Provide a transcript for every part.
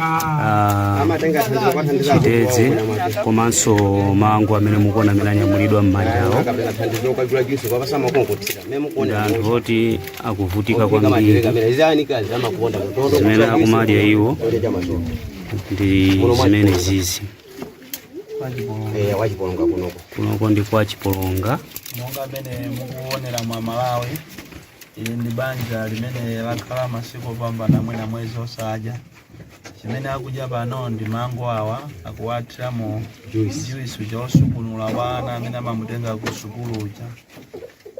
ah, chitedze komanso mango amene mukuona amene anyamulidwa m'manja mwawo ndi anthu oti akuvutika kwambiri zimene akumadya iwo ndi zimene zizi kunoko ndi kwa chipolonga monga mmene mukuonera aMalawi Ili ndi banja limene lakhala masiku opambana mwina mwezi osadya. Chimene akudya pano ndi mango awa akuwathiramo juisi uja wosukunula wa ana amene amamutenga ku sukulu uja.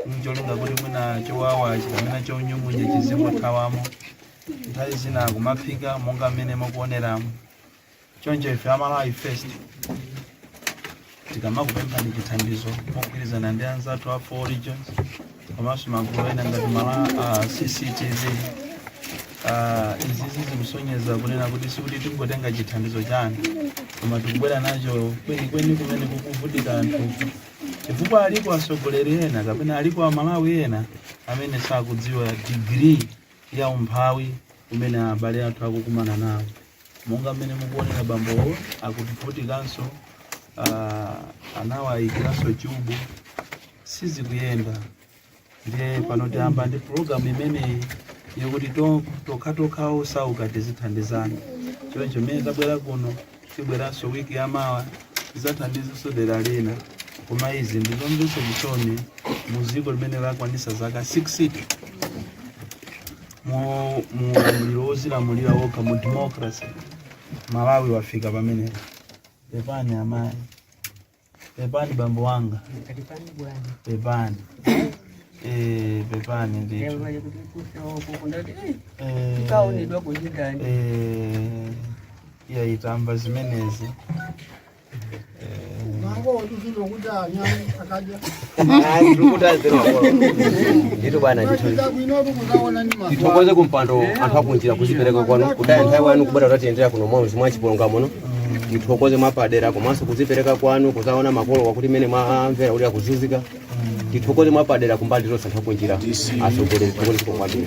Ncholinga kuti mwina chowawa chikamena chonyung'unya chizingothawamo. Nthawi zina akumaphika monga mmene mukuoneramo. Choncho ife a Malawi First tikamakupemphani chithandizo mogwirizana ndi anzathu a four regions komanso magulu ena ngati mala uh, CCTV uh, izizi zikusonyeza kunena kuti sikuti tikungotenga chithandizo chanu koma tikubwera nacho kwenikweni kumene kukuvutika anthu chifukwa alipo atsogoleri ena kapena alipo amalawi ena amene sakudziwa digiri ya umphawi umene abale athu akukumana nawo Monga mmene mukuonera bambowo akuvutikanso, ah, anawayikiranso chubu sizikuyenda ndiye pano tiyamba ndi pulogalamu imeneyi yokuti to- tokhatokha osauka tizithandizana choncho mmene tabwera kuno tibweranso wiki yamawa tizathandizenso dera lina koma izi ndi zomvetsa chisoni mu dziko limene lakwanisa zaka 60 mu mu ulamuliro wozilamulira wokha mu democracy malawi wafika pamenepa pepani amayi pepani bambo wanga pepani Eh, pepani ndithu Eh, kaonedwa kunyika eh, iya itamva zimenezi tithokoze kumpando anthu akunjira kuzipereka kwanu kutaya nthawi yanu kubwera kudzatiyendera kuno mmudzi mwa chipolonga muno tithokoze mwapadera komanso kuzipereka kwanu kuzaona makolowa kuti mmene mwamvera ali akuzunzika tithokoze mwapadera kumbali zonse anthu akunjira atsogoleri zikomo kwambiri